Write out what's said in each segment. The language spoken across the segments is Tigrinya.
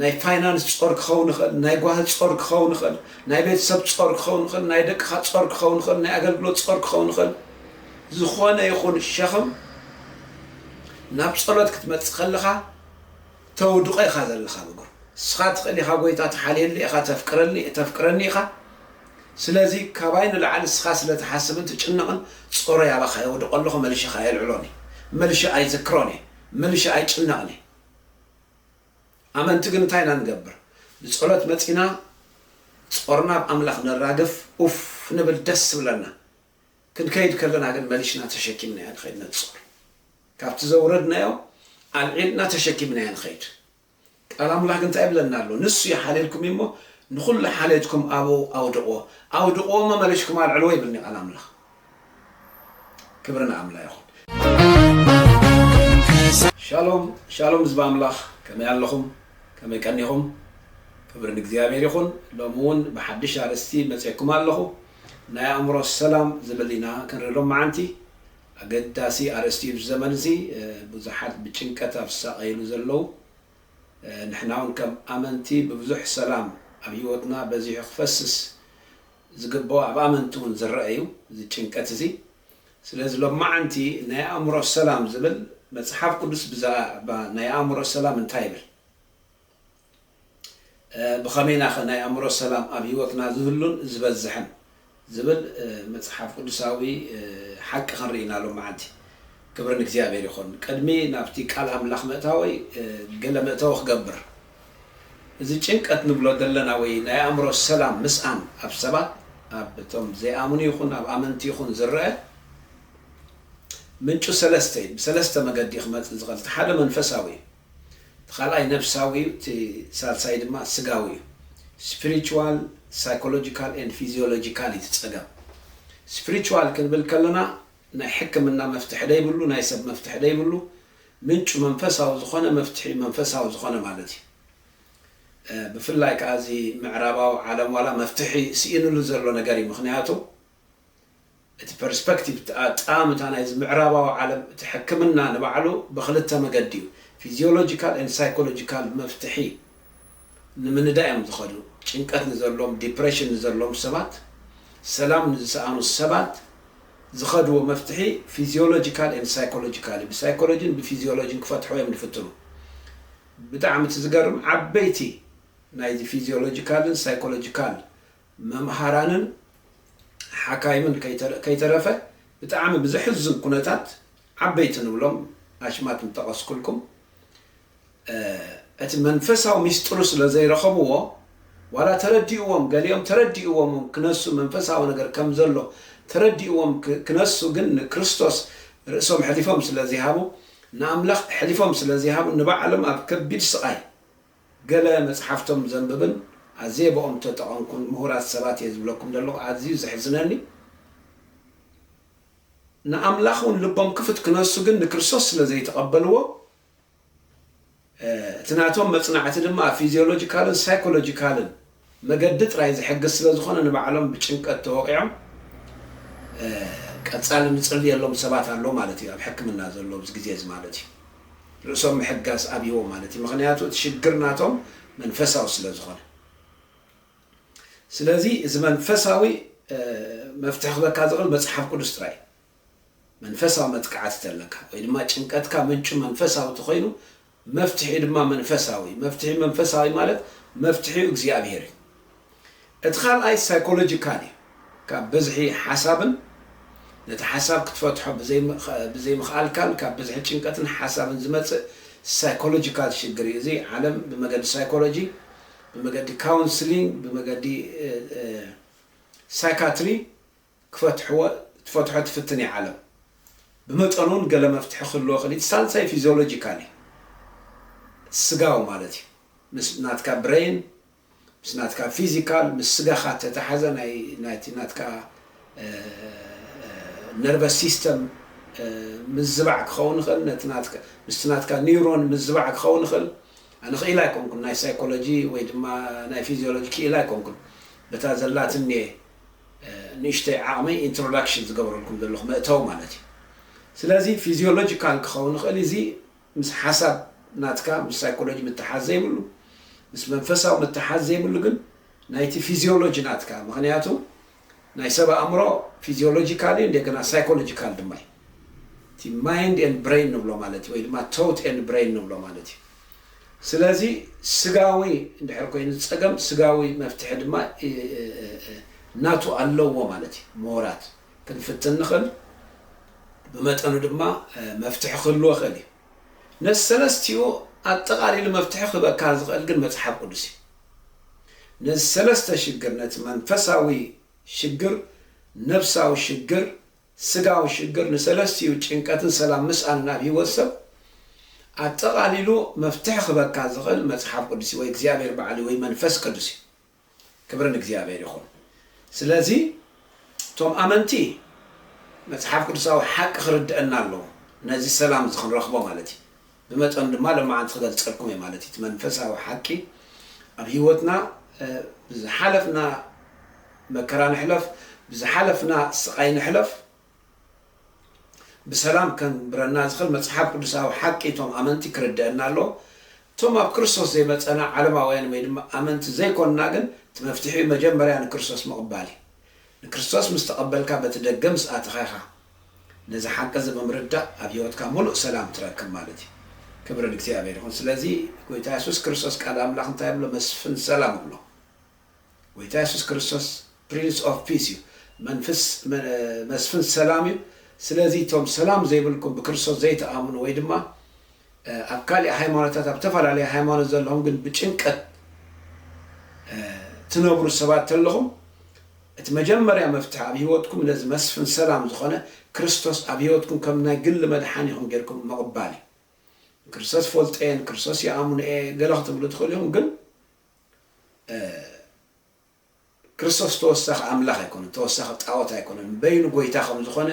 ናይ ፋይናንስ ጾር ክኸውን ይኽእል፣ ናይ ጓሂ ጾር ክኸውን ይኽእል፣ ናይ ቤተሰብ ጾር ክኸውን ይኽእል፣ ናይ ደቅኻ ጾር ክኸውን ይኽእል፣ ናይ ኣገልግሎት ጾር ክኸውን ይኽእል፣ ዝኾነ ይኹን ሸኽም ናብ ጸሎት ክትመጽእ ከለኻ ተውድቆ ኢኻ ዘለኻ ኣብ እግሩ። ንስኻ ትኽእል ኢኻ ጎይታ ትሓልየኒ ኢኻ ተፍቅረኒ ተፍቅረኒ ኢኻ ስለዚ ካባይ ንላዕሊ ንስኻ ስለ ትሓስብን ትጭነቕን ጾረይ ኣባኻ የውድቆ ኣለኹ መልሸ ከኣ ኣየልዕሎን እየ መልሸ ኣይዝክሮን እየ መልሸ ኣይጭነቕን እየ ኣመንቲ ግን እንታይ ኢና ንገብር ብጸሎት መጺና ጾርና ኣብ ኣምላኽ ነራግፍ ኡፍ ንብል ደስ ይብለና ክንከይድ ከለና ግን መሊሽና ተሸኪምናያ ንኸይድ ነቲ ጾር ካብቲ ዘውረድናዮ ኣልዒልና ተሸኪምናያ ንኸይድ ቃል ኣምላኽ ግን እንታይ ይብለና ኣሎ ንሱ ይሓልየልኩም እዩሞ ንኹሉ ሓልየትኩም ኣብኡ ኣውድቕዎ ኣውድቕዎ እሞ መሊሽኩም ኣልዕልዎ ይብልኒ ቃል ኣምላኽ ክብሪ ንኣምላ ይኹን። ሻሎም ሻሎም ህዝቢ ኣምላኽ ከመይ ኣለኹም ከመይ ቀኒኹም ክብሪ ንእግዚኣብሔር ይኹን ሎሚ ውን ብሓድሽ ኣርእስቲ መጼኩም ኣለኹ ናይ ኣእምሮ ሰላም ዝብል ኢና ክንርኢ ሎምዓንቲ ኣገዳሲ ኣርእስቲ እዩ እዚ ዘመን እዚ ብዙሓት ብጭንቀት ኣብ ዝሳቀይሉ ዘለዉ ንሕና ውን ከም ኣመንቲ ብብዙሕ ሰላም ኣብ ሂወትና በዚሑ ክፈስስ ዝግበኦ ኣብ ኣመንቲ እውን ዝረኣ እዩ እዚ ጭንቀት እዚ ስለዚ ሎማዓንቲ ናይ ኣእምሮ ሰላም ዝብል መጽሓፍ ቅዱስ ብዛእባ ናይ ኣእምሮ ሰላም እንታይ ይብል ብኸመይ ኢና ከ ናይ ኣእምሮ ሰላም ኣብ ህይወትና ዝህሉን ዝበዝሕን ዝብል መጽሓፍ ቅዱሳዊ ሓቂ ክንርኢ ኢና ሎማዓንቲ ክብሪ ንእግዚኣብሔር ይኹን ቅድሚ ናብቲ ቃል ኣምላኽ ምእታወይ ገለ መእተዊ ክገብር እዚ ጭንቀት ንብሎ ዘለና ወይ ናይ ኣእምሮ ሰላም ምስኣን ኣብ ሰባት ኣብ እቶም ዘይኣምኑ ይኹን ኣብ ኣመንቲ ይኹን ዝረኣ ምንጩ ሰለስተ እዩ ብሰለስተ መገዲ እዩ ክመጽእ ዝኽእል እቲ ሓደ መንፈሳዊ እዩ እቲ ካልኣይ ነብሳዊ እዩ እቲ ሳልሳይ ድማ ስጋዊ እዩ ስፕሪቹዋል ሳይኮሎጂካል ኤንድ ፊዚዮሎጂካል እዩ እቲ ጸገም ስፕሪቹዋል ክንብል ከለና ናይ ሕክምና መፍትሒ ደይብሉ ናይ ሰብ መፍትሒ ደይብሉ ምንጩ መንፈሳዊ ዝኾነ መፍትሒኡ መንፈሳዊ ዝኾነ ማለት እዩ። ብፍላይ ከኣ እዚ ምዕራባዊ ዓለም ዋላ መፍትሒ ስኢንሉ ዘሎ ነገር እዩ። ምኽንያቱ እቲ ፐርስፐክቲቭ እቲ ኣጠማምታ ናይዚ ምዕራባዊ ዓለም እቲ ሕክምና ንባዕሉ ብኽልተ መገዲ እዩ ፊዚዮሎጂካል ኤንድ ሳይኮሎጂካል መፍትሒ ንምንዳእ እዮም ዝኸዱ። ጭንቀት ንዘለዎም ዲፕረሽን ንዘለዎም ሰባት ሰላም ንዝሰኣኑ ሰባት። ዝኸድዎ መፍትሒ ፊዚዮሎጂካል ኤንድ ሳይኮሎጂካል እዩ ብሳይኮሎጂን ብፊዚዮሎጂን ክፈትሕዎ እዮም ዝፍትኑ ብጣዕሚ እቲ ዝገርም ዓበይቲ ናይዚ ፊዚዮሎጂካልን ሳይኮሎጂካል መምሃራንን ሓካይምን ከይተረፈ ብጣዕሚ ብዘሕዝን ኩነታት ዓበይቲ ንብሎም ኣሽማት ምጠቐስኩልኩም እቲ መንፈሳዊ ምስጢሩ ስለ ዘይረኸብዎ ዋላ ተረዲእዎም ገሊኦም ተረዲእዎም ክነሱ መንፈሳዊ ነገር ከም ዘሎ ተረዲእዎም ክነሱ ግን ንክርስቶስ ርእሶም ሐሊፎም ስለ ዚሃቡ ንኣምላኽ ሐሊፎም ስለ ዚሃቡ ንባዕሎም ኣብ ከቢድ ስቓይ ገለ መጽሓፍቶም ዘንብብን ኣዝየ ብኦም ተጠቐምኩን ምሁራት ሰባት እየ ዝብለኩም ዘለኹ ኣዝዩ ዘሕዝነኒ ንኣምላኽ ውን ልቦም ክፍት ክነሱ ግን ንክርስቶስ ስለ ዘይተቐበልዎ እቲ ናቶም መጽናዕቲ ድማ ኣብ ፊዝዮሎጂካልን ሳይኮሎጂካልን መገዲ ጥራይ ዝሕግዝ ስለ ዝኾነ ንባዕሎም ብጭንቀት ተወቒዖም ቀጻሊ ንጽልየሎም ሰባት ኣሎ ማለት እዩ ኣብ ሕክምና ዘሎ ኣብዚ ግዜ እዚ ማለት እዩ ርእሶም ምሕጋዝ ኣብይዎም ማለት እዩ ምኽንያቱ እቲ ሽግር ናቶም መንፈሳዊ ስለ ዝኾነ ስለዚ እዚ መንፈሳዊ መፍትሒ ክበካ ዝኽእል መጽሓፍ ቅዱስ ጥራይ እዩ። መንፈሳዊ መጥቃዕቲ ተለካ ወይ ድማ ጭንቀትካ ምንጩ መንፈሳዊ ተኾይኑ መፍትሒ ድማ መንፈሳዊ መፍትሒ መንፈሳዊ ማለት መፍትሒ እግዚኣብሔር እዩ። እቲ ካልኣይ ሳይኮሎጂካል እዩ። ካብ ብዝሒ ሓሳብን ነቲ ሓሳብ ክትፈትሖ ብዘይምኽኣልካን ካብ ብዝሒ ጭንቀትን ሓሳብን ዝመጽእ ሳይኮሎጂካል ሽግር እዩ። እዚ ዓለም ብመገዲ ሳይኮሎጂ ብመገዲ ካውንስሊንግ ብመገዲ ሳይካትሪ ክፈትሕዎ ትፈትሖ ትፍትን እያ ዓለም። ብመጠኑ እውን ገለ መፍትሒ ክህልዎ ይኽእል እዩ። እቲ ሳልሳይ ፊዚዮሎጂካል እዩ። ስጋዊ ማለት እዩ። ምስ ናትካ ብረይን፣ ምስ ናትካ ፊዚካል፣ ምስ ስጋኻ እተተሓዘ ናይ ናይቲ ናትካ ነርቨስ ሲስተም ምዝባዕ ክኸውን ይኽእል፣ ነቲ ናትካ ምስቲ ናትካ ኒውሮን ምዝባዕ ክኸውን ይኽእል፣ ኣነ ክኢላ ኣይኮንኩን ናይ ሳይኮሎጂ ወይ ድማ ናይ ፊዚዮሎጂ ክኢላ ኣይኮንኩን በታ ዘላትኒ ንእሽተይ ዓቕመይ ኢንትሮዳክሽን ዝገብረልኩም ዘለኹ መእተዊ ማለት እዩ ስለዚ ፊዚዮሎጂካል ክኸውን ይኽእል እዩ እዚ ምስ ሓሳብ ናትካ ምስ ሳይኮሎጂ ምትሓዝ ዘይብሉ ምስ መንፈሳዊ ምትሓዝ ዘይብሉ ግን ናይቲ ፊዚዮሎጂ ናትካ ምኽንያቱ ናይ ሰብ ኣእምሮ ፊዚዮሎጂካል እዩ እንደገና ሳይኮሎጂካል ድማ እዩ። እቲ ማይንድ ኤንድ ብረይን ንብሎ ማለት እዩ ወይ ድማ ቶት ኤንድ ብረይን ንብሎ ማለት እዩ። ስለዚ ስጋዊ እንድሕር ኮይኑ ጸገም ስጋዊ መፍትሒ ድማ ናቱ ኣለዎ ማለት እዩ። ምሁራት ክንፍትን ንኽእል ብመጠኑ ድማ መፍትሒ ክህልዎ ይኽእል እዩ። ነዚ ሰለስቲኡ ኣጠቓሊሉ መፍትሒ ክህበካ ዝኽእል ግን መጽሓፍ ቅዱስ እዩ። ነዚ ሰለስተ ሽግር ነቲ መንፈሳዊ ሽግር ነፍሳዊ ሽግር ስጋዊ ሽግር ንሰለስቲኡ ጭንቀትን ሰላም ምስኣንን ኣብ ህይወት ሰብ ኣጠቓሊሉ መፍትሒ ክህበካ ዝኽእል መጽሓፍ ቅዱስ እዩ ወይ እግዚኣብሔር ባዕሉ እዩ ወይ መንፈስ ቅዱስ እዩ ክብሪ ንእግዚኣብሔር ይኹን ስለዚ እቶም ኣመንቲ መጽሓፍ ቅዱሳዊ ሓቂ ክርድአና ኣለዎ ነዚ ሰላም እዚ ክንረኽቦ ማለት እዩ ብመጠኑ ድማ ለማዓንቲ ክገልጸልኩም እየ ማለት እዩ እቲ መንፈሳዊ ሓቂ ኣብ ሂወትና ብዝሓለፍና መከራ ንሕለፍ ብዝሓለፍና ስቃይ ንሕለፍ ብሰላም ከንብረና ዝኽል መጽሓፍ ቅዱሳዊ ሓቂ እቶም ኣመንቲ ክርደእና ኣለዎ እቶም ኣብ ክርስቶስ ዘይመጸና ዓለማውያን ወይ ድማ ኣመንቲ ዘይኮንና ግን እቲ መፍትሒኡ መጀመርያ ንክርስቶስ ምቕባል እዩ ንክርስቶስ ምስ ተቐበልካ በቲ ደገ ምስ ኣተኻ ኢኻ ነዚ ሓቂዚ ብምርዳእ ኣብ ሂወትካ ሙሉእ ሰላም ትረክብ ማለት እዩ ክብሪ ንእግዚኣብሔር ይኩን ስለዚ ጎይታ የሱስ ክርስቶስ ቃል ኣምላክ እንታይ ይብሎ መስፍን ሰላም ይብሎ ጎይታ የሱስ ክርስቶስ ፕሪንስ ኦፍ ፒስ እዩ መንፍስ መስፍን ሰላም እዩ ስለዚ እቶም ሰላም ዘይብልኩም ብክርስቶስ ዘይትኣምኑ ወይ ድማ ኣብ ካሊእ ሃይማኖታት ኣብ ተፈላለየ ሃይማኖት ዘለኹም ግን ብጭንቀት ትነብሩ ሰባት ተለኹም እቲ መጀመርያ መፍትሒ ኣብ ህይወትኩም ነዚ መስፍን ሰላም ዝኾነ ክርስቶስ ኣብ ህይወትኩም ከም ናይ ግሊ መድሓኒኹም ጌርኩም ምቕባል እዩ። ንክርስቶስ ፈልጦ እየ ንክርስቶስ ይኣምኖ እየ ገለ ክትብሉ ትኽእሉ ኢኹም ግን ክርስቶስ ተወሳኺ ኣምላኽ ኣይኮነን፣ ተወሳኺ ጣኦት ኣይኮነን፣ በይኑ ጎይታ ከም ዝኾነ፣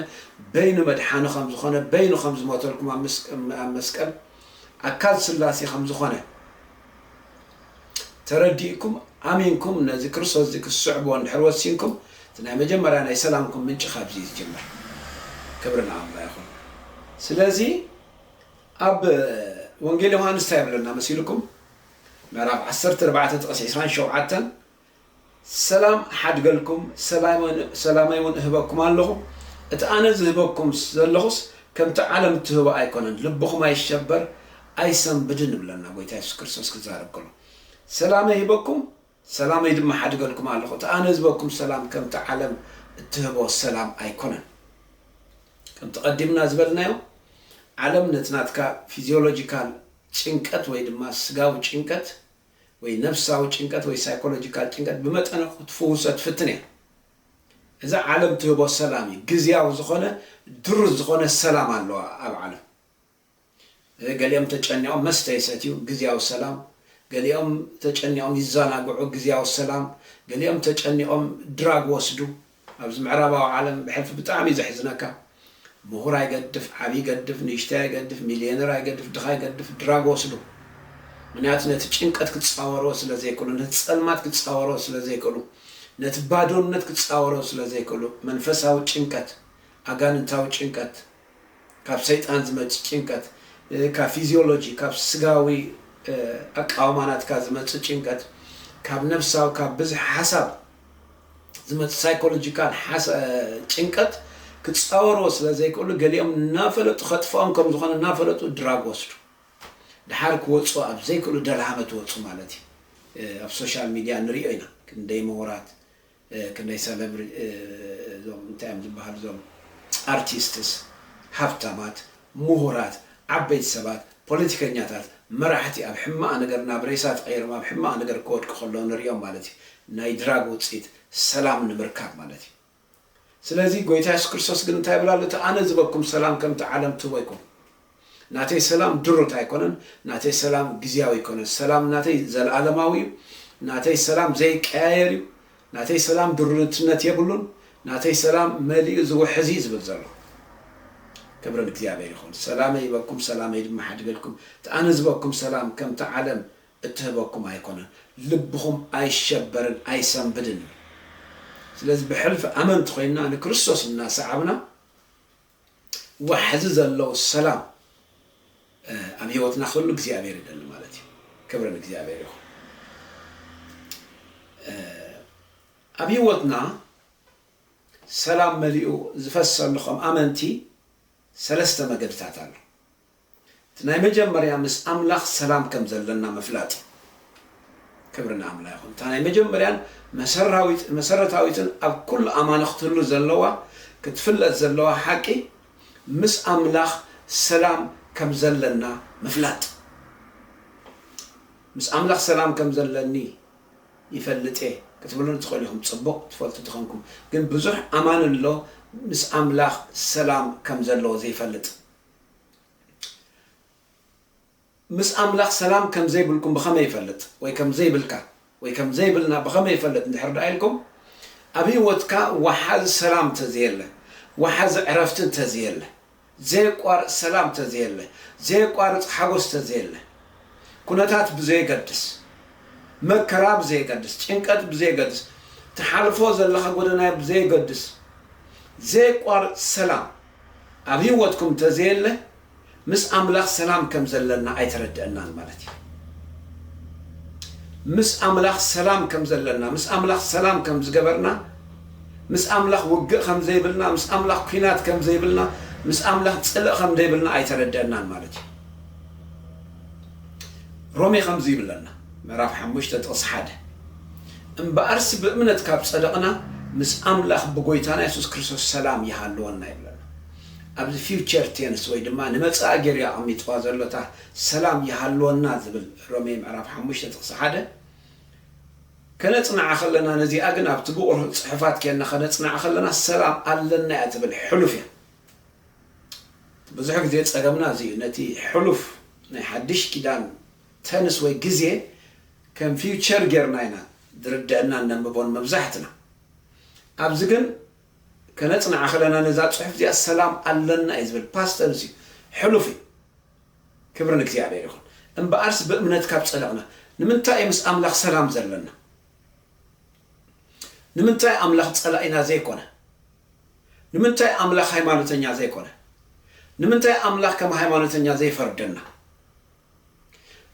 በይኑ መድሓኒ ከም ዝኾነ፣ በይኑ ከም ዝሞተልኩም ኣብ ኣብ መስቀል ኣካል ስላሴ ከም ዝኾነ ተረዲእኩም ኣሚንኩም ነዚ ክርስቶስ እዚ ክትስዕብዎ እንድሕር ወሲንኩም እቲ ናይ መጀመርያ ናይ ሰላምኩም ምንጪ ካብዚ እዩ ዝጅምር። ክብሪ ንኣምላኽ ይኹን። ስለዚ ኣብ ወንጌል ዮሃንስ እንታይ ይብለና መሲልኩም? ምዕራፍ ዓሰርተ ኣርባዕተ ጥቕሲ ዕስራን ሸውዓተን ሰላም እሓድገልኩም፣ ሰላመይውን እህበኩም ኣሎኹ፣ እቲ ኣነ ዝህበኩም ዘለኹስ ከምቲ ዓለም እትህቦ ኣይኮነን፣ ልብኹም ኣይሸበር ኣይሰንብድን ይብለና ጐይታ የሱስ ክርስቶስ ክዛረብ ከሎ። ሰላመይ እህበኩም፣ ሰላመይ ድማ እሓድገልኩም ኣሎኹ፣ እቲ ኣነ ዝህበኩም ሰላም ከምቲ ዓለም እትህቦ ሰላም ኣይኮነን። ከምቲ ቀዲምና ዝበልናዮ ዓለም ነቲ ናትካ ፊዚዮሎጂካል ጭንቀት ወይ ድማ ስጋዊ ጭንቀት ወይ ነፍሳዊ ጭንቀት ወይ ሳይኮሎጂካል ጭንቀት ብመጠነ ክትፍውሶ ትፍትን እያ። እዛ ዓለም ትህቦ ሰላም እዩ። ግዝያዊ ዝኾነ ድሩት ዝኾነ ሰላም ኣለዋ ኣብ ዓለም። ገሊኦም ተጨኒቖም መስተ ይሰትዩ፣ ግዝያዊ ሰላም። ገሊኦም ተጨኒቖም ይዘናግዑ፣ ግዝያዊ ሰላም። ገሊኦም ተጨኒቖም ድራግ ወስዱ፣ ኣብዚ ምዕራባዊ ዓለም ብሕልፊ ብጣዕሚ ዘሕዝነካ ምሁር ኣይገድፍ ዓብይ ገድፍ ንእሽተይ ኣይገድፍ ሚልየነር ኣይገድፍ ድኻ ኣይገድፍ ድራግ ወስዱ ምንያቱ ነቲ ጭንቀት ክጻወርዎ ስለ ዘይክእሉ ነቲ ጸልማት ክጻወርዎ ስለ ዘይክእሉ ነቲ ባዶነት ክጻወርዎ ስለ ዘይክእሉ መንፈሳዊ ጭንቀት ኣጋንንታዊ ጭንቀት ካብ ሰይጣን ዝመጽእ ጭንቀት፣ ካብ ፊዝዮሎጂ፣ ካብ ስጋዊ ኣቃውማ ናትካ ዝመጽእ ጭንቀት፣ ካብ ነፍሳዊ፣ ካብ ብዝሒ ሓሳብ ዝመጽእ ሳይኮሎጂካል ጭንቀት ክጻወርዎ ስለ ዘይክእሉ ገሊኦም እናፈለጡ ከጥፍኦም ከም ዝኾነ እናፈለጡ ድራግ ወስዱ። ድሓር ክወጹ ኣብ ዘይክእሉ ደልሃመት ወጹ ማለት እዩ። ኣብ ሶሻል ሚድያ ንሪኦ ኢና ክንደይ ምሁራት ክንደይ ሰለብሪ እዞም እንታይ እዮም ዝብሃሉ እዞም ኣርቲስትስ ሃብታማት ሙሁራት ዓበይቲ ሰባት ፖለቲከኛታት መራሕቲ ኣብ ሕማቅ ነገር ናብ ሬሳ ተቀይሮም ኣብ ሕማቅ ነገር ክወድቁ ከለዉ ንሪኦም ማለት እዩ ናይ ድራግ ውጺኢት ሰላም ንምርካብ ማለት እዩ ስለዚ ጎይታ የሱስ ክርስቶስ ግን እንታይ ይብል ኣሎ እቲ ኣነ ዝበኩም ሰላም ከምቲ ዓለም ትህቦ ኣይኮነን ናተይ ሰላም ድሩት ኣይኮነን ናተይ ሰላም ግዝያዊ ኣይኮነን ሰላም ናተይ ዘልኣለማዊ እዩ ናተይ ሰላም ዘይቀያየር እዩ ናተይ ሰላም ድሩትነት የብሉን ናተይ ሰላም መሊኡ ዝውሕዝ እዩ ዝብል ዘለኹ ክብሪ ንእግዚኣብሔር ይኹን ሰላመይ ይበኩም ሰላመይ ድማ ሓድገልኩም እቲ ኣነ ዝበኩም ሰላም ከምቲ ዓለም እትህበኩም ኣይኮነን ልብኹም ኣይሸበርን ኣይሰንብድን እዩ ስለዚ ብሕልፊ ኣመንቲ ኮይንና ንክርስቶስ እናሰዓብና ዋሕዚ ዘለዎ ሰላም ኣብ ሂወትና ክህሉ እግዚኣብሄር ይደሊ ማለት እዩ ክብሪ ንእግዚኣብሄር ይኹን ኣብ ሂወትና ሰላም መሊኡ ዝፈሰሉ ከም ኣመንቲ ሰለስተ መገድታት ኣሎ እቲ ናይ መጀመርያ ምስ ኣምላኽ ሰላም ከም ዘለና ምፍላጥ እዩ። ክብሪ ንኣምላ ይኹን። እታ ናይ መጀመርያን መሰራዊት መሰረታዊትን ኣብ ኩሉ ኣማኒ ክትህሉ ዘለዋ ክትፍለጥ ዘለዋ ሓቂ ምስ ኣምላኽ ሰላም ከም ዘለና ምፍላጥ። ምስ ኣምላኽ ሰላም ከም ዘለኒ ይፈልጥ እየ ክትብሉኒ ትኽእሉ ኢኹም። ጽቡቕ ትፈልጡ ተኾንኩም ግን ብዙሕ ኣማኒ ኣሎ ምስ ኣምላኽ ሰላም ከም ዘለዎ ዘይፈልጥ። ምስ ኣምላኽ ሰላም ከም ዘይብልኩም ብኸመይ ይፈልጥ? ወይ ከም ዘይብልካ? ወይ ከም ዘይብልና ብኸመይ ይፈልጥ እንድሕር ደኣ ኢልኩም፣ ኣብ ህይወትካ ወሓዚ ሰላም እንተ ዘየለ፣ ወሓዚ ዕረፍቲ እንተ ዘየለ፣ ዘየቋርጽ ሰላም እንተ ዘየለ፣ ዘየቋርጽ ሓጐስ እንተ ዘየለ፣ ኵነታት ብዘየገድስ፣ መከራ ብዘየገድስ፣ ጭንቀት ብዘየገድስ፣ ትሓልፎ ዘለኻ ጐደና ብዘየገድስ፣ ዘየቋርጽ ሰላም፣ ኣብ ህይወትኩም እንተዘየለ ምስ ኣምላኽ ሰላም ከም ዘለና ኣይተረደኣናን ማለት እዩ። ምስ ኣምላኽ ሰላም ከም ዘለና፣ ምስ ኣምላኽ ሰላም ከም ዝገበርና፣ ምስ ኣምላኽ ውግእ ከም ዘይብልና፣ ምስ ኣምላኽ ኲናት ከም ዘይብልና፣ ምስ ኣምላኽ ጽልኢ ከም ዘይብልና ኣይተረደኣናን ማለት እዩ። ሮሜ ከምዚ ይብለና ምዕራፍ ሓሙሽተ ጥቕሲ ሓደ እምበኣርሲ ብእምነት ካብ ጸደቕና ምስ ኣምላኽ ብጎይታና የሱስ ክርስቶስ ሰላም ይሃልወና ይብለና። ኣብዚ ፊውቸር ቴንስ ወይ ድማ ንመጻኢ ጌሩ እዩ ኣቐሚጥዋ ዘሎ እታ ሰላም ይሃልወና ዝብል ሮሜ ምዕራፍ ሓሙሽተ ጥቕሲ ሓደ ከነጽንዓ ከለና ነዚኣ ግን ኣብቲ ብቑር ጽሑፋት ኴንና ከነጽንዓ ከለና ሰላም ኣለና እያ ትብል ሕሉፍ እያ። ብዙሕ ግዜ ጸገምና እዚ እዩ ነቲ ሕሉፍ ናይ ሓድሽ ኪዳን ተንስ ወይ ግዜ ከም ፊውቸር ጌርና ኢና ዝርደእናን ነንብቦን መብዛሕትና። ኣብዚ ግን ከነጽንዓ ከለና ነዛ ጽሑፍ እዚኣ ሰላም ኣለና እዩ ዝብል ፓስት ተንስ እዩ ሕሉፍ እዩ። ክብሪ ንእግዚኣብሔር ይኹን። እምበኣርስ ብእምነት ካብ ጸደቕና ንምንታይ እዩ ምስ ኣምላኽ ሰላም ዘለና? ንምንታይ ኣምላኽ ጸላኢና ዘይኮነ? ንምንታይ ኣምላኽ ሃይማኖተኛ ዘይኮነ? ንምንታይ ኣምላኽ ከም ሃይማኖተኛ ዘይፈርደና?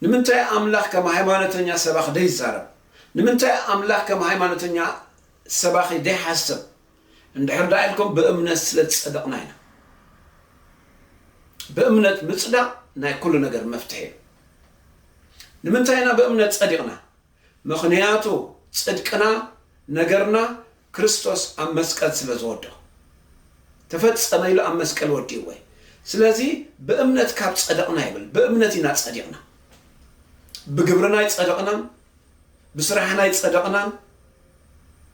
ንምንታይ ኣምላኽ ከም ሃይማኖተኛ ሰባኺ ደይዛረብ? ንምንታይ ኣምላኽ ከም ሃይማኖተኛ ሰባኺ ደይሓስብ? እንድሕር ደኣ ኢልኩም ብእምነት ስለ ዝጸደቕና ኢና። ብእምነት ምጽዳቕ ናይ ኩሉ ነገር መፍትሒ እዩ። ንምንታይ ኢና ብእምነት ጸዲቕና? ምኽንያቱ ጽድቅና ነገርና ክርስቶስ ኣብ መስቀል ስለ ዝወደኦ ተፈጸመ ኢሉ ኣብ መስቀል ወዲእዎ እዩ ስለዚ ብእምነት ካብ ጸደቕና ይብል ብእምነት ኢና ጸዲቕና ብግብርና ኣይጸደቕናን ብስራሕና ኣይጸደቕናን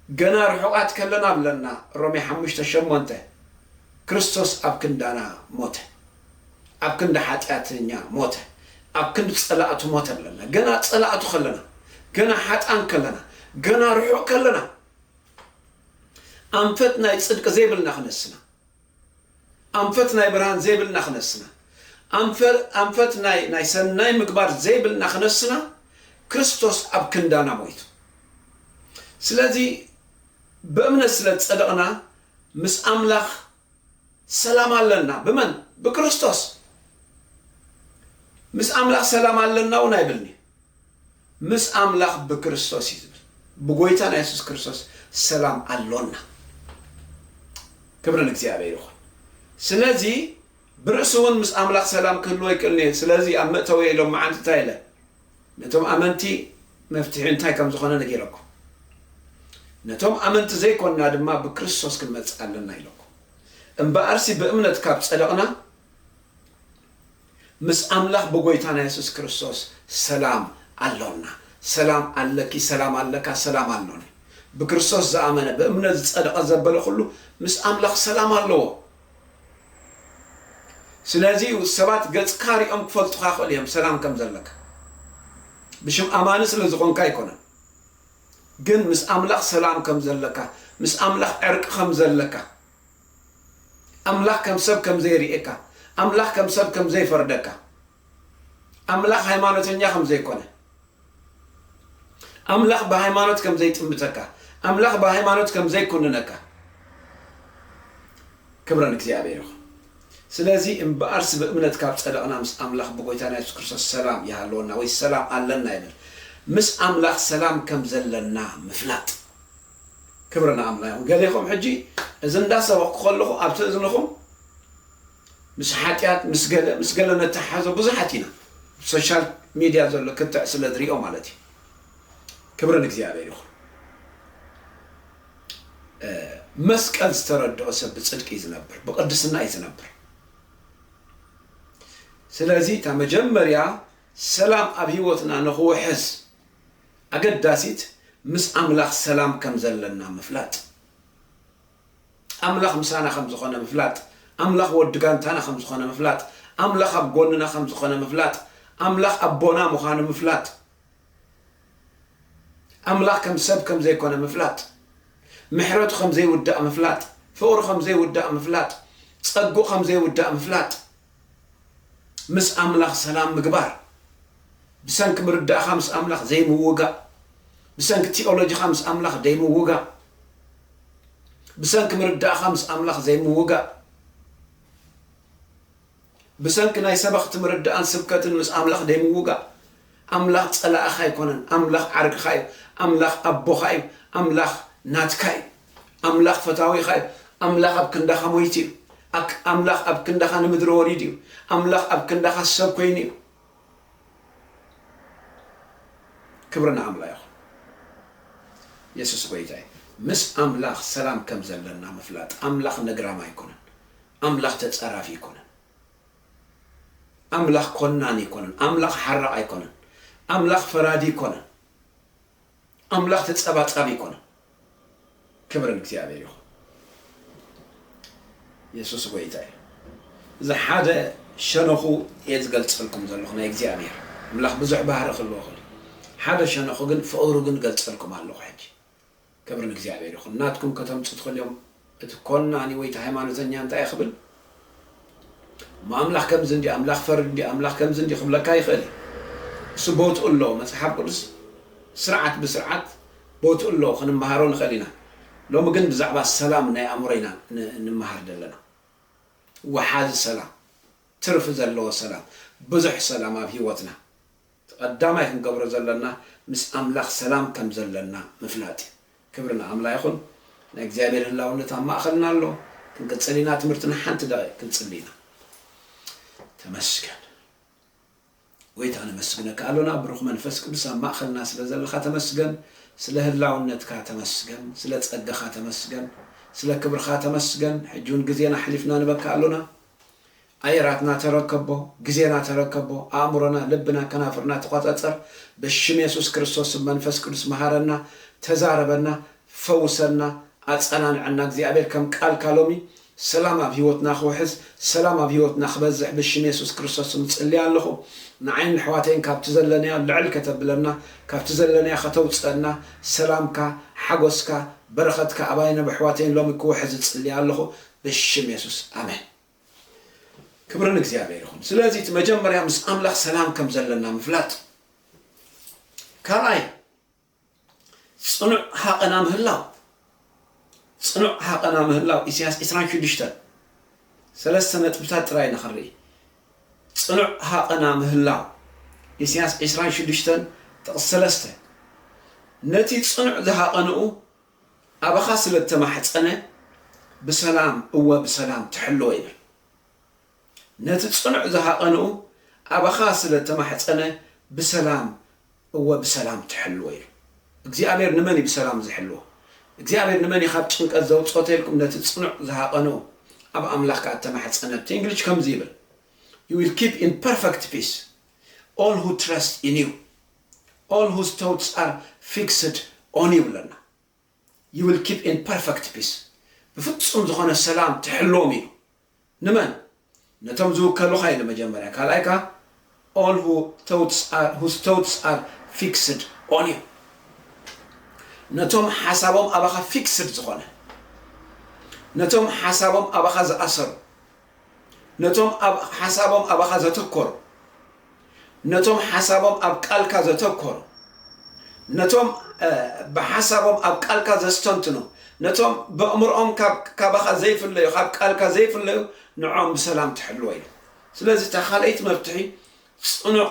ገና ርሑቓት ከለና ኣለና ሮሜ ሓሙሽተ ሸሞንተ ክርስቶስ ኣብ ክንዳና ሞተ ኣብ ክንዲ ሓጢኣተኛ ሞተ ኣብ ክንዲ ጸላእቱ ሞተለና ገና ጸላእቱ ከለና ገና ሓጥኣን ከለና ገና ርሑቕ ከለና ኣንፈት ናይ ጽድቂ ዘይብልና ክነስና ኣንፈት ናይ ብርሃን ዘይብልና ክነስና ኣንፈት ናይ ናይ ሰናይ ምግባር ዘይብልና ክነስና ክርስቶስ ኣብ ክንዳና ሞይቱ ስለዚ ብእምነት ስለ ዝጸደቕና ምስ ኣምላኽ ሰላም ኣለና ብመን ብክርስቶስ ምስ ኣምላኽ ሰላም ኣለና እውን ኣይብልንዩ ምስ ኣምላኽ ብክርስቶስ እዩ ዝብል ብጎይታና የሱስ ክርስቶስ ሰላም ኣሎና ክብሪ ንእግዚኣብሔር ይኹን ስለዚ ብርእሲ እውን ምስ ኣምላኽ ሰላም ክህልዎ ይክእልንየ ስለዚ ኣብ መእተውየ ኢሎም መዓንቲ እንታይ ኢለ ነቶም ኣመንቲ መፍትሒ እንታይ ከም ዝኾነ ነጊረኩም፣ ነቶም ኣመንቲ ዘይኮንና ድማ ብክርስቶስ ክንመጽእ ኣለና ኢለኩም። እምበኣርሲ ብእምነት ካብ ጸደቕና፣ ምስ ኣምላኽ ብጎይታና የሱስ ክርስቶስ ሰላም ኣሎና። ሰላም ኣለኪ፣ ሰላም ኣለካ፣ ሰላም ኣሎኒ። ብክርስቶስ ዝኣመነ፣ ብእምነት ዝጸደቐ ዘበለ ኩሉ ምስ ኣምላኽ ሰላም ኣለዎ። ስለዚ እዩ ሰባት ገጽካ ሪኦም ክፈልጡኻ ይኽእሉ እዮም ሰላም ከም ዘለካ ብሽም ኣማኒ ስለ ዝኾንካ ኣይኮነን ግን ምስ ኣምላኽ ሰላም ከም ዘለካ ምስ ኣምላኽ ዕርቂ ከም ዘለካ ኣምላኽ ከም ሰብ ከም ዘይርእየካ ኣምላኽ ከም ሰብ ከም ዘይፈርደካ ኣምላኽ ሃይማኖተኛ ከም ዘይኮነ ኣምላኽ ብሃይማኖት ከም ዘይጥምተካ፣ ኣምላኽ ብሃይማኖት ከም ዘይኩንነካ ክብረ ንእግዚኣብሔር ይኹን። ስለዚ እምብኣርስ ብእምነት ካብ ጸደቕና ምስ ኣምላኽ ብጎይታና የሱስ ክርስቶስ ሰላም ይሃልወና ወይ ሰላም ኣለና ይብል። ምስ ኣምላኽ ሰላም ከም ዘለና ምፍላጥ። ክብሪ ንኣምላ ይኹን። ገሌኹም ሕጂ እዚ እንዳሰበኽኩ ከለኹ ኣብቲ እዝንኹም። ምስ ሓጥያት ምስ ገለ ምስ ገለ ነተሓሕዞ ብዙሓት ኢና ኣብ ሶሻል ሚድያ ዘሎ ክትዕ ስለ ዝሪኦ ማለት እዩ ክብሪ ንእግዚኣብሔር ይኹን መስቀል ዝተረድኦ ሰብ ብጽድቂ እዩ ዝነብር ብቅድስና እዩ ዝነብር ስለዚ እታ መጀመርያ ሰላም ኣብ ህይወትና ንኽውሕስ ኣገዳሲት ምስ ኣምላኽ ሰላም ከም ዘለና ምፍላጥ ኣምላኽ ምሳና ከም ዝዀነ ምፍላጥ፣ ኣምላኽ ወዲ ጋንታና ከም ዝዀነ ምፍላጥ፣ ኣምላኽ ኣብ ጐንና ከም ዝዀነ ምፍላጥ፣ ኣምላኽ ኣቦና ምዃኑ ምፍላጥ፣ ኣምላኽ ከም ሰብ ከም ዘይኰነ ምፍላጥ፣ ምሕረቱ ከም ዘይውዳእ ምፍላጥ፣ ፍቕሩ ከም ዘይውዳእ ምፍላጥ፣ ጸግኡ ከም ዘይውዳእ ምፍላጥ፣ ምስ ኣምላኽ ሰላም ምግባር፣ ብሰንኪ ምርዳእኻ ምስ ኣምላኽ ዘይምውጋእ፣ ብሰንኪ ቲኦሎጂኻ ምስ ኣምላኽ ዘይምውጋእ፣ ብሰንኪ ምርዳእኻ ምስ ኣምላኽ ዘይምውጋእ፣ ብሰንኪ ናይ ሰበኽቲ ምርዳእን ስብከትን ምስ ኣምላኽ ዘይምውጋእ፣ ኣምላኽ ጸላእኻ ኣይኮነን፣ ኣምላኽ ዓርክኻ እዩ፣ ኣምላኽ ኣቦኻ እዩ፣ ኣምላኽ ናትካ እዩ። ኣምላኽ ፈታዊኻ እዩ። ኣምላኽ ኣብ ክንዳኻ ሞይቱ እዩ። ኣክ ኣምላኽ ኣብ ክንዳኻ ንምድሪ ወሪዱ እዩ። ኣምላኽ ኣብ ክንዳኻ ሰብ ኮይኑ እዩ። ክብሪ ንኣምላ ይኹን። የሱስ ጎይታ እዩ። ምስ ኣምላኽ ሰላም ከም ዘለና ምፍላጥ። ኣምላኽ ነግራም ኣይኮነን። ኣምላኽ ተጸራፊ ኣይኮነን። ኣምላኽ ኮናኒ ኣይኮነን። ኣምላኽ ሓራቕ ኣይኮነን። ኣምላኽ ፈራዲ ኣይኮነን። ኣምላኽ ተጸባጻቢ ኣይኮነን። ክብሪ ንእግዚኣብሔር ይኹን። የሱስ ጎይታ እዩ። እዚ ሓደ ሸነኹ እየ ዝገልጸልኩም ዘለኹ ናይ እግዚኣብሔር ኣምላኽ ብዙሕ ባህሪ ክህልዎ ክእል እዩ። ሓደ ሸነኹ ግን ፍቕሩ ግን እገልጸልኩም ኣለኹ ሕጂ። ክብሪ ንእግዚኣብሔር ይኹን። ናትኩም ከተምጹ ትኽእሉ እዮም። እቲ ኮናኒ ወይ እቲ ሃይማኖተኛ እንታይ ክብል እሞ ኣምላኽ ከምዚ እንድዩ ኣምላኽ ፈሪ እንድዩ ኣምላኽ ከምዚ እንድዩ ክብለካ ይኽእል እዩ እሱ ቦትኡ ኣለዎ መጽሓፍ ቅዱስ ስርዓት ብስርዓት ቦትኡ ኣለዎ ክንመሃሮ ንኽእል ኢና ሎሚ ግን ብዛዕባ ሰላም ናይ ኣእምሮ ኢና እንመሃር ዘለና ወሓዚ ሰላም ትርፊ ዘለዎ ሰላም ብዙሕ ሰላም ኣብ ሂወትና እቲ ቀዳማይ ክንገብሮ ዘለና ምስ ኣምላኽ ሰላም ከም ዘለና ምፍላጥ እዩ። ክብሪ ንኣምላ ይኹን። ናይ እግዚኣብሔር ህላውነት ኣብ ማእኸልና ኣሎ። ክንቅጽል ኢና ትምህርቲ ንሓንቲ ደቂቅ ክንጽሊ ኢና። ተመስገን ጎይታ ነመስግነካ ኣሎና ብሩኽ መንፈስ ቅዱስ ኣብ ማእኸልና ስለ ዘለኻ ተመስገን ስለ ህላውነትካ ተመስገን ስለ ጸጋኻ ተመስገን ስለ ክብርኻ ተመስገን ሕጂ ውን ግዜና ኣሕሊፍና ንበካ ኣሎና ኣየራትና ተረከቦ፣ ግዜና ተረከቦ፣ ኣእምሮና፣ ልብና፣ ከናፍርና ተቆጸጸር፣ ብሽም የሱስ ክርስቶስ ስም መንፈስ ቅዱስ መሃረና፣ ተዛረበና፣ ፈውሰና፣ ኣጸናንዐና እግዚኣብሔር ከም ቃልካ ሎሚ ሰላም ኣብ ሂወትና ክውሕዝ ሰላም ኣብ ሂወትና ክበዝሕ ብሽም የሱስ ክርስቶስ ስም እጽሊ ኣለኹ ንዓይን ንሕዋተይን ካብቲ ዘለናዮ ልዕል ከተብለና ካብቲ ዘለናዮ ከተውጽእና ሰላምካ ሓጎስካ በረኸትካ ኣባይን ኣብ ኣሕዋተይን ሎሚ ክውሕዝ እጽሊ ኣለኹ ብሽም የሱስ ኣሜን። ክብሪ ንእግዚኣብሔር ይኹን ስለዚ እቲ መጀመርያ ምስ ኣምላኽ ሰላም ከም ዘለና ምፍላጥ ካልኣይ ፅኑዕ ሃቐና ምህላው ፅኑዕ ሃቐና ምህላው ኢሳያስ 26 ሰለስተ ነጥብታት ጥራይ ኢና ክንርኢ ፅኑዕ ሃቐና ምህላው ኢሳያስ 26 ጥቕስ ሰለስተ ነቲ ፅኑዕ ዝሃቐንኡ ኣባኻ ስለ እተማሕጸነ ብሰላም እወ ብሰላም ትሕልዎ ይብል። ነቲ ጽኑዕ ዝሃቐንኡ ኣባኻ ስለ እተማሕጸነ ብሰላም እወ ብሰላም ትሕልዎ ኢሉ። እግዚኣብሔር ንመን እዩ ብሰላም ዝሕልዎ? እግዚኣብሔር ንመን እዩ ካብ ጭንቀት ዘውጽኦ ተልኩም ነቲ ጽኑዕ ዝሃቐንኡ ኣብ ኣምላኽ ከኣ እተማሕጸነ ኣብቲ እንግሊሽ ከምዚ ይብል You will keep in perfect peace all who trust in you ኦል ሁዝ ቶትስ ኣር ፊክስድ ኦን ዩ ብለና። ዩ ዊል ኪፕ ኢን ፐርፈክት ፒስ፣ ብፍጹም ዝኾነ ሰላም ትሕልዎም ኢሉ። ንመን? ነቶም ዝውከሉኻ ኢሉ መጀመርያ፣ ካልኣይ ከኣ ኦል ሁ ቶትስ ኣር ሁዝ ቶትስ ኣር ፊክስድ ኦን ዩ፣ ነቶም ሓሳቦም ኣባኻ ፊክስድ ዝኾነ፣ ነቶም ሓሳቦም ኣባኻ ዝኣሰሩ። ነቶም ኣብ ሓሳቦም ኣባኻ ዘተኮሩ፣ ነቶም ሓሳቦም ኣብ ቃልካ ዘተኮሩ፣ ነቶም ብሓሳቦም ኣብ ቃልካ ዘስተንትኑ፣ ነቶም በእምርኦም ካባኻ ዘይፍለዩ፣ ካብ ቃልካ ዘይፍለዩ፣ ንዕኦም ብሰላም ትሕልዎ ኢሉ። ስለዚ እታ ካልኣይቲ መፍትሒ ጽኑዕ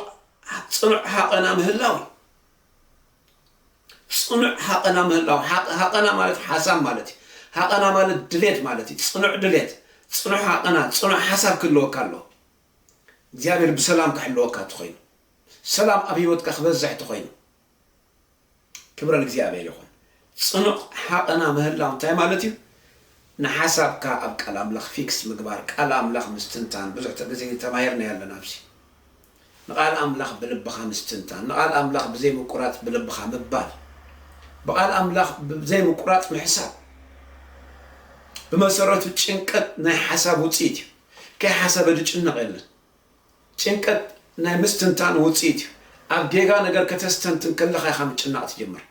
ጽኑዕ ሃቐና ምህላው እዩ። ጽኑዕ ሃቐና ምህላው፣ ሃቐ፣ ሃቐና ማለት ሓሳብ ማለት እዩ። ሃቐና ማለት ድሌት ማለት እዩ። ጽኑዕ ድሌት፣ ጽኑዕ ሃቐና፣ ጽኑዕ ሓሳብ ክህልወካ ኣለዎ። እግዚኣብሔር ብሰላም ክሕልወካ እንተኾይኑ፣ ሰላም ኣብ ህይወትካ ክበዝሕ እንተኾይኑ፣ ክብረ ንእግዚኣብሔር ይኹን። ጽኑዕ ሃቐና ምህላው እንታይ ማለት እዩ? ንሓሳብካ ኣብ ቃል ኣምላኽ ፊክስ ምግባር፣ ቃል ኣምላኽ ምስትንታን፣ ብዙሕ ግዜ ተማሂርናዮ ኣለና ኣብዚ። ንቓል ኣምላኽ ብልብኻ ምስትንታን፣ ንቓል ኣምላኽ ብዘይ ምቁራጽ ብልብኻ ምባል፣ ብቓል ኣምላኽ ብዘይ ምቁራጽ ምሕሳብ፣ ብመሰረቱ ጭንቀት ናይ ሓሳብ ውጽኢት እዩ። ከይሓሰበ ዝጭነቕ የለን። ጭንቀት ናይ ምስትንታን ውጽኢት እዩ። ኣብ ጌጋ ነገር ከተስተንትን ከለኻ ኢኻ ምጭናቕ ትጅምር።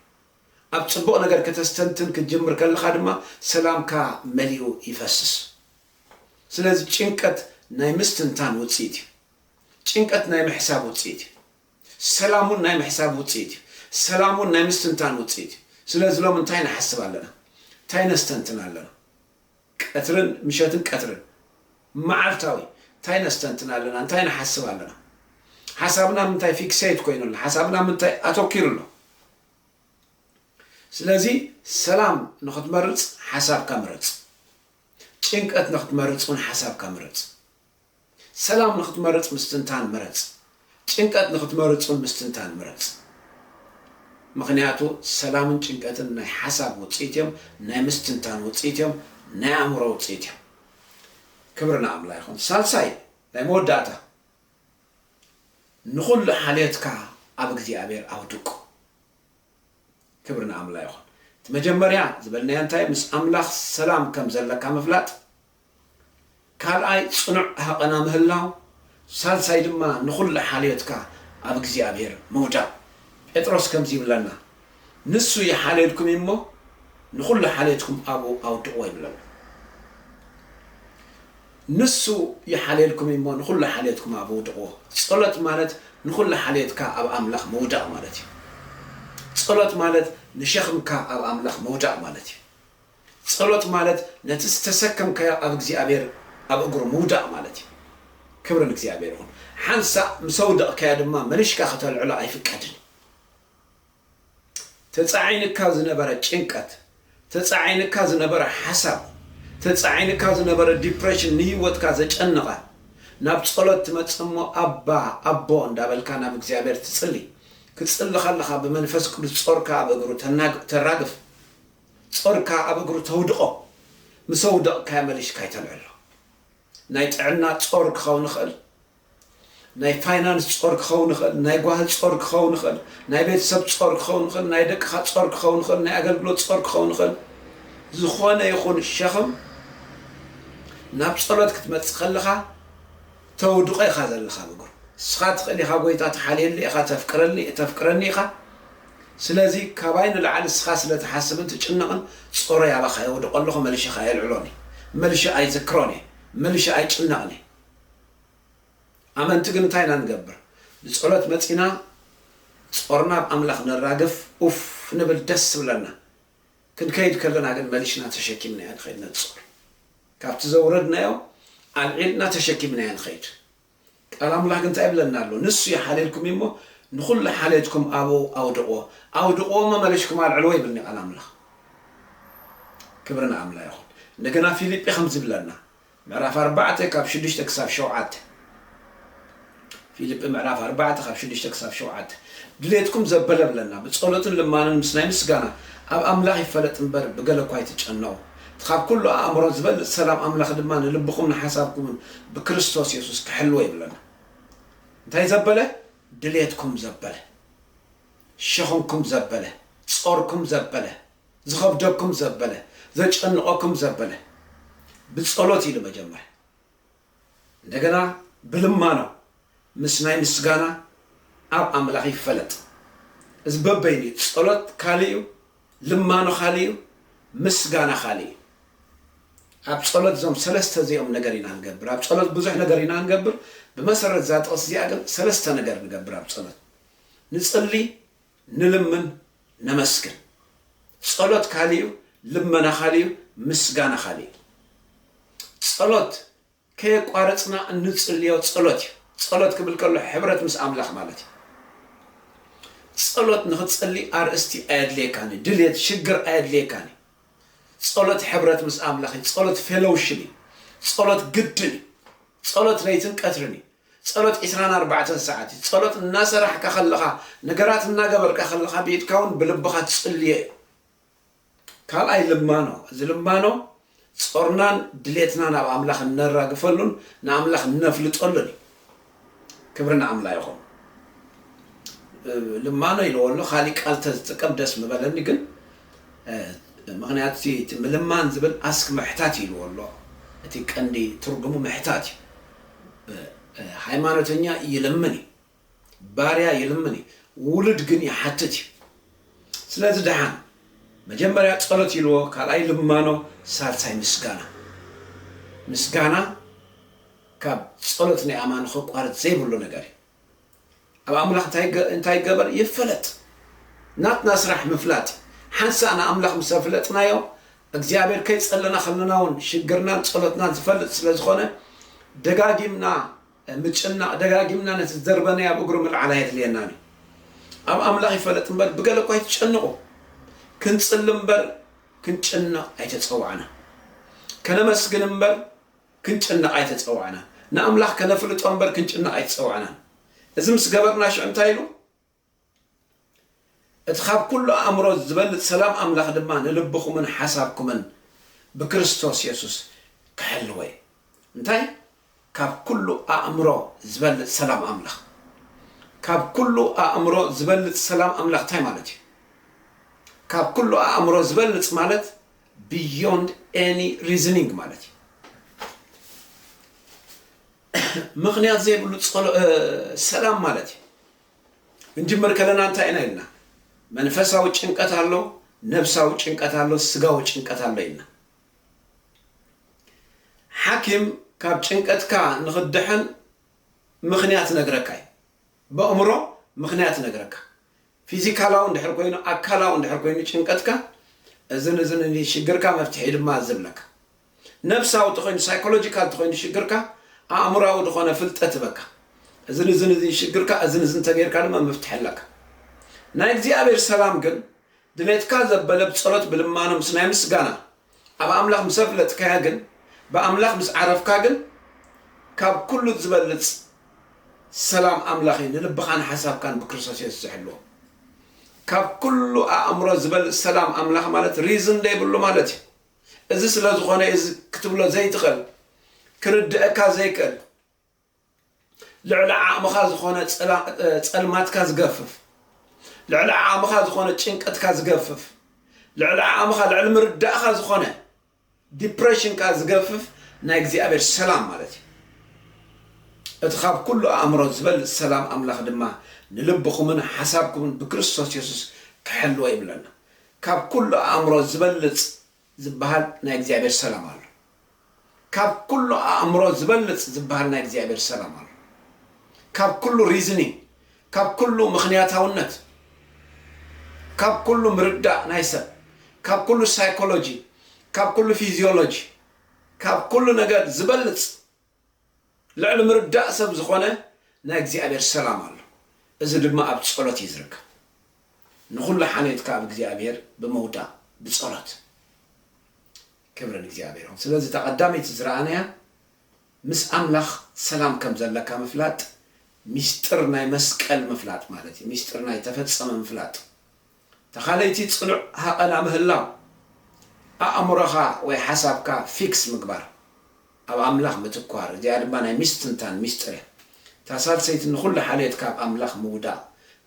ኣብ ጽቡቕ ነገር ከተስተንትን ክትጅምር ከለኻ ድማ ሰላምካ መሊኡ ይፈስስ። ስለዚ ጭንቀት ናይ ምስትንታን ውጽኢት እዩ። ጭንቀት ናይ ምሕሳብ ውጽኢት እዩ። ሰላም ውን ናይ ምሕሳብ ውጽኢት እዩ። ሰላም ውን ናይ ምስትንታን ውጽኢት እዩ። ስለዚ ሎሚ እንታይ ንሓስብ ኣለና? እንታይ ነስተንትን ኣለና? ቀትርን ምሸትን ቀትርን መዓልታዊ እንታይ ነስተንትን ኣለና? እንታይ ንሓስብ ኣለና? ሓሳብና ኣብ ምንታይ ፊክሰይት ኮይኑ ኣሎ? ሓሳብና ምንታይ ኣተኪሩ ኣሎ? ስለዚ ሰላም ንኽትመርጽ ሓሳብካ ምረጽ። ጭንቀት ንኽትመርጽ ውን ሓሳብካ ምረጽ። ሰላም ንኽትመርጽ ምስትንታን ምረጽ። ጭንቀት ንኽትመርጽን ምስትንታን ምረጽ። ምኽንያቱ ሰላምን ጭንቀትን ናይ ሓሳብ ውጽኢት እዮም፣ ናይ ምስትንታን ውጽኢት እዮም፣ ናይ ኣእምሮ ውጽኢት እዮም። ክብሪ ንኣምላ ይኹን። ሳልሳይ ናይ መወዳእታ ንኹሉ ሓልዮትካ ኣብ እግዚኣብሔር ኣውድቆ። ክብሪ ንኣምላ ይኹን። እቲ መጀመርያ ዝበልናዮ እንታይ ምስ ኣምላኽ ሰላም ከም ዘለካ ምፍላጥ፣ ካልኣይ ጽኑዕ ሃቐና ምህላው፣ ሳልሳይ ድማ ንኹሉ ሓልዮትካ ኣብ እግዚኣብሔር ምውዳቕ። ጴጥሮስ ከምዚ ይብለና ንሱ ይሓልየልኩም እዩ እሞ ንኹሉ ሓልዮትኩም ኣብኡ ኣውድቕዎ ይብለና። ንሱ ይሓልየልኩም እዩ እሞ ንኹሉ ሓልዮትኩም ኣብኡ ኣውድቕዎ። ጸሎት ማለት ንኹሉ ሓልዮትካ ኣብ ኣምላኽ ምውዳቕ ማለት እዩ። ጸሎት ማለት ንሸኽምካ ኣብ ኣምላኽ ምውዳቕ ማለት እዩ። ጸሎት ማለት ነቲ ዝተሰከምካዮ ኣብ እግዚኣብሔር ኣብ እግሩ ምውዳቕ ማለት እዩ። ክብሪ ንእግዚኣብሔር ይኹን። ሓንሳእ ምስ ኣውደቕካዮ ድማ መሊሽካ ከተልዕሎ ኣይፍቀድን እዩ። ተጻዒንካ ዝነበረ ጭንቀት፣ ተጻዒንካ ዝነበረ ሓሳብ፣ ተጻዒንካ ዝነበረ ዲፕረሽን ንህይወትካ ዘጨነቐ ናብ ጸሎት ትመጽእ እሞ ኣባ ኣቦ እንዳበልካ ናብ እግዚኣብሔር ትጽሊ። ክትጽሊ ከለኻ ብመንፈስ ቅዱስ ጾርካ ኣብ እግሩ ተራግፍ። ጾርካ ኣብ እግሩ ተውድቆ ምስ ኣውደቅካዮ መሊሽካ ኣይተልዕሎ ናይ ጥዕና ጾር ክከውን ይክእል ናይ ፋይናንስ ጾር ክከውን ይክእል ናይ ጓሂ ጾር ክከውን ይክእል ናይ ቤተሰብ ጾር ክከውን ይክእል ናይ ደቅካ ጾር ክከውን ይክእል ናይ ኣገልግሎት ጾር ክከውን ይክእል ዝኮነ ይኩን ሸክም ናብ ጸሎት ክትመጽእ ከለካ ተውድቆ ኢካ ዘለካ ኣብ እግሩ ንስካ ትክእል ኢካ ጎይታ ትሓልየለይ ኢካ ተፍቅረለይ ተፍቅረኒ ኢካ ስለዚ ካባይ ንላዕሊ ንስኻ ስለ ትሓስብን ትጭነቕን ጾረይ ኣባኻ የውድቖ ኣለኹ፣ መልሸ ከኣ ኣየልዕሎን እየ። መልሸ ኣይዝክሮን እየ። መልሸ ኣይጭነቕን እየ። ኣመንቲ ግን እንታይ ኢና ንገብር? ንጸሎት መጺእና ጾርና ኣብ ኣምላኽ ነራግፍ፣ ኡፍ ንብል፣ ደስ ይብለና። ክንከይድ ከለና ግን መሊሽና ተሸኪምናዮ ንኸይድ ነቲ ጾር። ካብቲ ዘውረድናዮ ኣልዒልና ተሸኪምናዮ ንኸይድ። ቃል ኣምላክ እንታይ ይብለና ኣሎ ንሱ ይሓልየልኩም እዩ እሞ ንኩሉ ሓልየትኩም ኣብኡ ኣውድቅዎ ኣውድቅዎ እሞ መሊሽኩም ኣልዕልዎ ይብልኒ ቃል ኣምላክ ክብሪ ንኣምላ ይኩን እንደገና ፊልጲ ከምዚ ይብለና ምዕራፍ ኣርባዕተ ካብ ሽዱሽተ ክሳብ ሸውዓተ ፊልጲ ምዕራፍ ኣርባዕተ ካብ ሽዱሽተ ክሳብ ሸውዓተ ድሌትኩም ዘበለ ብለና ብጸሎትን ልማንን ምስ ናይ ምስጋና ኣብ ኣምላኽ ይፈለጥ እምበር ብገለ እኳ ኣይትጨነቑ እቲ ኻብ ኵሉ ኣእምሮ ዚበልጽ ሰላም ኣምላኽ ድማ ንልብኹምን ንሓሳብኩምን ብክርስቶስ የሱስ ኪሕልዎ ይብለና። እንታይ ዘበለ? ድሌትኩም ዘበለ፣ ሸኽምኩም ዘበለ፣ ጾርኩም ዘበለ፣ ዚኸብደኩም ዘበለ፣ ዘጨንቐኩም ዘበለ። ብጸሎት ኢሉ መጀመርያ። እንደገና ብልማና ምስ ናይ ምስጋና ኣብ ኣምላኽ ይፈለጥ። እዚ በበይኑ እዩ። ጸሎት ካልእ እዩ፣ ልማኖ ካልእ እዩ፣ ምስጋና ካልእ እዩ። ኣብ ጸሎት እዞም ሰለስተ እዚኦም ነገር ኢና ንገብር። ኣብ ጸሎት ብዙሕ ነገር ኢና ንገብር፣ ብመሰረት እዛ ጥቕሲ እዚኣ ግን ሰለስተ ነገር ንገብር ኣብ ጸሎት። ንጽሊ፣ ንልምን ነመስግን ጸሎት ካልእ እዩ ልመና ካልእ እዩ ምስጋና ካልእ እዩ ጸሎት ከየቋረጽና እንጽልዮ ጸሎት እዩ ጸሎት ክብል ከሎ ሕብረት ምስ ኣምላኽ ማለት እዩ ጸሎት ንኽትጸሊ ኣርእስቲ ኣየድልየካን እዩ ድልየት ሽግር ኣየድልየካን እዩ ጸሎት ሕብረት ምስ ኣምላኽ እዩ ጸሎት ፌሎውሽን እዩ ጸሎት ግድን እዩ ጸሎት ለይትን ቀትርን እዩ ጸሎት ዕስራን ኣርባዕተን ሰዓት እዩ። ጸሎት እናሰራሕካ ከለኻ፣ ነገራት እናገበርካ ከለኻ ብኢድካ እውን ብልብኻ ትጽልዮ እዩ። ካልኣይ ልማኖ፣ እዚ ልማኖ ጾርናን ድሌትናን ኣብ ኣምላኽ እነራግፈሉን ንኣምላኽ እነፍልጠሉን እዩ። ክብሪ ንኣምላ ይኹን። ልማኖ ኢለዎ ኣሎ፣ ካሊእ ቃል ተዝጥቀም ደስ ምበለኒ ግን ምክንያቱ እቲ ምልማን ዝብል ኣስክ ምሕታት ኢልዎ ኣሎ እቲ ቀንዲ ትርጉሙ ምሕታት እዩ ሃይማኖተኛ ይልምን እዩ ባርያ ይልምን እዩ ውሉድ ግን ይሓትት እዩ ስለዚ ደሓን መጀመርያ ጸሎት ይልዎ ካልኣይ ልማኖ ሳልሳይ ምስጋና ምስጋና ካብ ጸሎት ናይ ኣማን ከቋርጽ ዘይብሉ ነገር እዩ ኣብ ኣምላኽ እንታይ ይገበር ይፈለጥ ናትና ስራሕ ምፍላጥ እዩ ሓንሳእ ንኣምላኽ ምስ ኣፍለጥናዮ እግዚኣብሔር ከይጸለና ከለና እውን ሽግርናን ጸሎትናን ዝፈልጥ ስለ ዝኾነ ደጋጊምና ምጭናቕ ደጋጊምና ነቲ ዝደርበናዮ ኣብ እግሩ ምልዓል ኣየድልየናን እዩ ኣብ ኣምላኽ ይፈለጥ እምበር ብገለ እኳ ኣይትጨንቑ ክንጽሊ እምበር ክንጭነቕ ኣይተጸዋዕና ከነመስግን እምበር ክንጭነቕ ኣይተጸዋዕናን። ንኣምላኽ ከነፍልጦ እምበር ክንጭነቕ ኣይተጸዋዕናን። እዚ ምስ ገበርና ሽዑ እንታይ ኢሉ? እቲ ኻብ ኵሉ ኣእምሮ ዚበልጽ ሰላም ኣምላኽ ድማ ንልብኹምን ሓሳብኩምን ብክርስቶስ የሱስ ኪሕልዎ እዩ። እንታይ? ካብ ኵሉ ኣእምሮ ዚበልጽ ሰላም ኣምላኽ። ካብ ኵሉ ኣእምሮ ዚበልጽ ሰላም ኣምላኽ እንታይ ማለት እዩ? ካብ ኵሉ ኣእምሮ ዚበልጽ ማለት፣ ብዮንድ ኤኒ ሪዝኒንግ ማለት እዩ። ምኽንያት ዘይብሉ ሰላም ማለት እዩ። እንጅምር ከለና እንታይ ኢና ኢልና? መንፈሳዊ ጭንቀት ኣሎ፣ ነብሳዊ ጭንቀት ኣሎ፣ ስጋዊ ጭንቀት ኣሎ ኢልና። ሓኪም ካብ ጭንቀትካ ንኽድሕን ምኽንያት ነግረካ እዩ። በእምሮ ምኽንያት ነግረካ። ፊዚካላዊ እንድሕር ኮይኑ ኣካላዊ እንድሕር ኮይኑ ጭንቀትካ እዝን እዝን እኒ ሽግርካ መፍትሒ ድማ እዚ እብለካ ነብሳዊ ተኾይኑ ሳይኮሎጂካል ተኾይኑ ሽግርካ ኣእምራዊ ዝኾነ ፍልጠት እበካ እዝን እዝን እዚ ሽግርካ እዝን እዝን ተገይርካ ድማ መፍትሒ ኣለካ ናይ እግዚኣብሔር ሰላም ግን ድሌትካ ዘበለ ብጸሎት ብልማኖ ምስ ናይ ምስጋና ኣብ ኣምላኽ ምስ ኣፍለጥካያ ግን፣ ብኣምላኽ ምስ ዓረፍካ ግን፣ ካብ ኩሉ ዝበልጽ ሰላም ኣምላኽ እዩ ንልብኻን ሓሳብካን ብክርስቶስ የሱስ ዝሕልዎ። ካብ ኩሉ ኣእምሮ ዝበልጽ ሰላም ኣምላኽ ማለት ሪዝን ዘይብሉ ማለት እዩ። እዚ ስለ ዝኾነ እዚ ክትብሎ ዘይትኽእል፣ ክርድኣካ ዘይክእል፣ ልዕሊ ዓቕምኻ ዝኾነ ጸልማትካ ዝገፍፍ፣ ልዕሊ ዓቕምኻ ዝኾነ ጭንቀትካ ዝገፍፍ፣ ልዕሊ ዓቕምኻ ልዕሊ ምርዳእኻ ዝኾነ ዲፕሬሽንካ ዝገፍፍ ናይ እግዚኣብሔር ሰላም ማለት እዩ። እቲ ካብ ኩሉ ኣእምሮ ዝበልጽ ሰላም ኣምላኽ ድማ ንልብኹምን ሓሳብኩምን ብክርስቶስ የሱስ ክሕልዎ ይብለና። ካብ ኩሉ ኣእምሮ ዝበልጽ ዝበሃል ናይ እግዚኣብሔር ሰላም ኣሎ። ካብ ኩሉ ኣእምሮ ዝበልጽ ዝበሃል ናይ እግዚኣብሔር ሰላም ኣሎ። ካብ ኩሉ ሪዝኒንግ፣ ካብ ኩሉ ምኽንያታውነት፣ ካብ ኩሉ ምርዳእ ናይ ሰብ፣ ካብ ኩሉ ሳይኮሎጂ፣ ካብ ኩሉ ፊዚዮሎጂ፣ ካብ ኩሉ ነገር ዝበልጽ ልዕሊ ምርዳእ ሰብ ዝኾነ ናይ እግዚኣብሔር ሰላም ኣሎ እዚ ድማ ኣብ ጸሎት እዩ ዝርከብ ንኹሉ ሓልዮትካ ኣብ እግዚኣብሔር ብምውዳቅ ብጸሎት ክብሪ ንእግዚኣብሔር ይኹን ስለዚ እታ ቀዳመይቲ ዝረኣናያ ምስ ኣምላኽ ሰላም ከም ዘለካ ምፍላጥ ሚስጥር ናይ መስቀል ምፍላጥ ማለት እዩ ሚስጥር ናይ ተፈጸመ ምፍላጥ ተኻለይቲ ጽኑዕ ሃቐና ምህላው፣ ኣእምሮኻ ወይ ሓሳብካ ፊክስ ምግባር፣ ኣብ ኣምላኽ ምትኳር፣ እዚኣ ድማ ናይ ምስትንታን ሚስጥር እያ። እታ ሳልሰይቲ ንኹሉ ሓልዮትካ ኣብ ኣምላኽ ምውዳቕ፣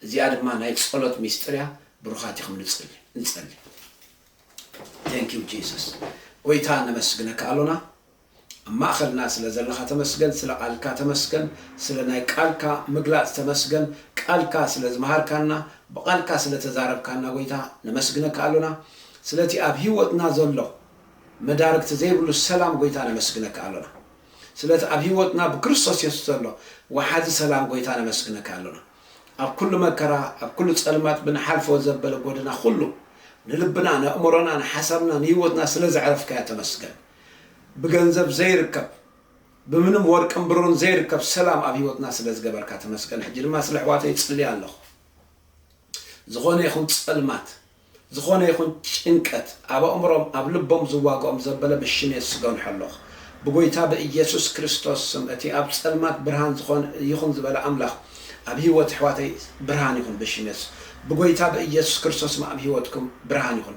እዚኣ ድማ ናይ ጸሎት ሚስጥር እያ፣ ብሩኻት ኢኹም ንጽሊ ንጸሊ። Thank you Jesus ጎይታ ነመስግነካ ኣሎና። ኣብ ማእኸልና ስለ ዘለኻ ተመስገን ስለ ቃልካ ተመስገን ስለ ናይ ቃልካ ምግላፅ ተመስገን ቃልካ ስለ ዝመሃርካና ብቃልካ ስለ ተዛረብካና ጎይታ ነመስግነካ ኣሎና ስለቲ ኣብ ሂወትና ዘሎ መዳርግቲ ዘይብሉ ሰላም ጎይታ ነመስግነካ ኣሎና ስለቲ ኣብ ሂወትና ብክርስቶስ የሱስ ዘሎ ወሓዚ ሰላም ጎይታ ነመስግነካ ኣሎና ኣብ ኩሉ መከራ ኣብ ኩሉ ፀልማት ብንሓልፎ ዘበለ ጎደና ኩሉ ንልብና ነእምሮና ንሓሳብና ንሂወትና ስለ ዘዕረፍካዮ ተመስገን ብገንዘብ ዘይርከብ ብምንም ወርቅን ብሩን ዘይርከብ ሰላም ኣብ ሂወትና ስለ ዝገበርካ ተመስገን ሕጂ ድማ ስለ ኣሕዋተይ ይጽሊ ኣለኹ ዝኾነ ይኹን ጸልማት ዝኾነ ይኹን ጭንቀት ኣብ ኣእምሮም ኣብ ልቦም ዝዋግኦም ዘበለ ብሽም የሱስ እገንሖ ኣለኹ ብጎይታ ብኢየሱስ ክርስቶስ ስም እቲ ኣብ ጸልማት ብርሃን ዝኾን ይኹን ዝበለ ኣምላኽ ኣብ ሂወት ኣሕዋተይ ብርሃን ይኹን ብሽም የሱስ ብጎይታ ብኢየሱስ ክርስቶስ ስም ኣብ ሂወትኩም ብርሃን ይኹን